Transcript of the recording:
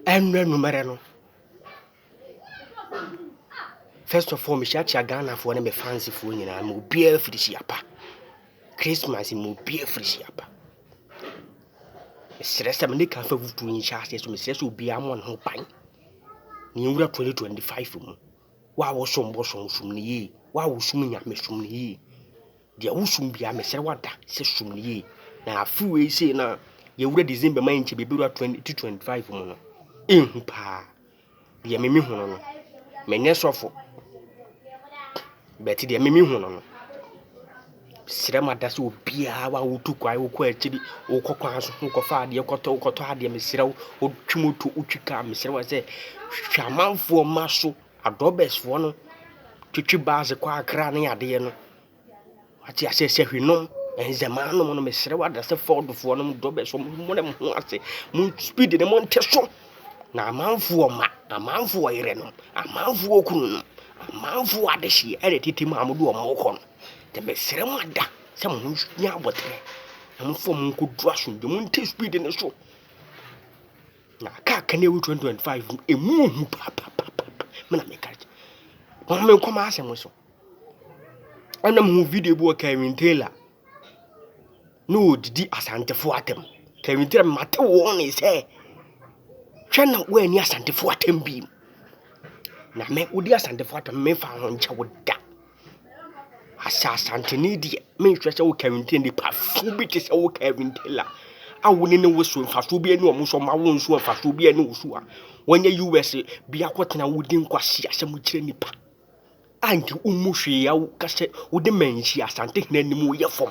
Ɛnnɛ anwummerɛ no, first of all, mehyiakyia Ghanafoɔ ne me fansifoɔ nyinaa ma obiara firi Siapa. Christmas ma obiara firi Siapa. Mesrɛ sɛ mene ka fa fufuo yi nhyɛ aseɛ so mesrɛ sɛ obiara mmɔ ne ho ban na yɛnwura 2025 mu. Wo a wosom bosom, som no yie. Wo a wosum Nyame, som no yie. Deɛ wosom biara mesrɛ wo ada sɛ som no yie na afiri wei sei no a yɛwura December ma yɛnkyɛ bɛbɛwura 2025 mu no ɛhu paa deɛ meme hu no no menyɛ sɔfo bɛte deɛ meme hu no no serɛ ma da sɛ obiara wa wotu kwan wokɔ akyiri wokɔ kwan so wokɔfa adeɛ kɔtɔ wokɔtɔ adeɛ meserɛ wo wotwi moto wotwi kaa meserɛ wa sɛ hwɛ amanfoɔ ma so adɔbɛsfoɔ no twitwi baa dze kɔɔ akra ne adeɛ no wate aseɛ sɛ hwenom nzemaa nom no mesrɛ wo adase fɔɔdofoɔ nom dɔbɛsfoɔ mommrɛ mo ho ase mo speed no monte so na amanfoɔ ma amanfoɔ yerɛ nom amanfoɔ kunu nom amanfoɔ adehyeɛ ɛna tete mu a mode wɔn kɔ no nti mesrɛ mo ada sɛ mo ho nya abɔterɛ na momfa wɔn nkɔduru asomdwe monte speed no so Na kaa kan ewu twenty twenty five mu emu ohu paapaapaapa me na meka kyɛ wɔn me nkɔm asɛm so ɛna mo hu video bi wɔ Kevin Taylor ne wɔdidi asantefo atɛm Kevin Taylor mate wɔn ne sɛ hwɛ na wɔani asantefo atɛm bi na me wodi asantefo atɛm mefa ho nkyɛ wo da Asɛ Asanteni deɛ, menhwɛ sɛ woka nte nnipafoɔ bi te sɛ woka nte la a wo ne no wo so mfasoɔ biara nni wɔn so, wɔn awo nso mfasoɔ biara nni wo so a, wɔnyɛ US bi akɔtena wodi nkwaseasɛm kyerɛ nnipa a nka wommu hwee a woka sɛ wode manhyia Asantehene animuoyɛfoɔ.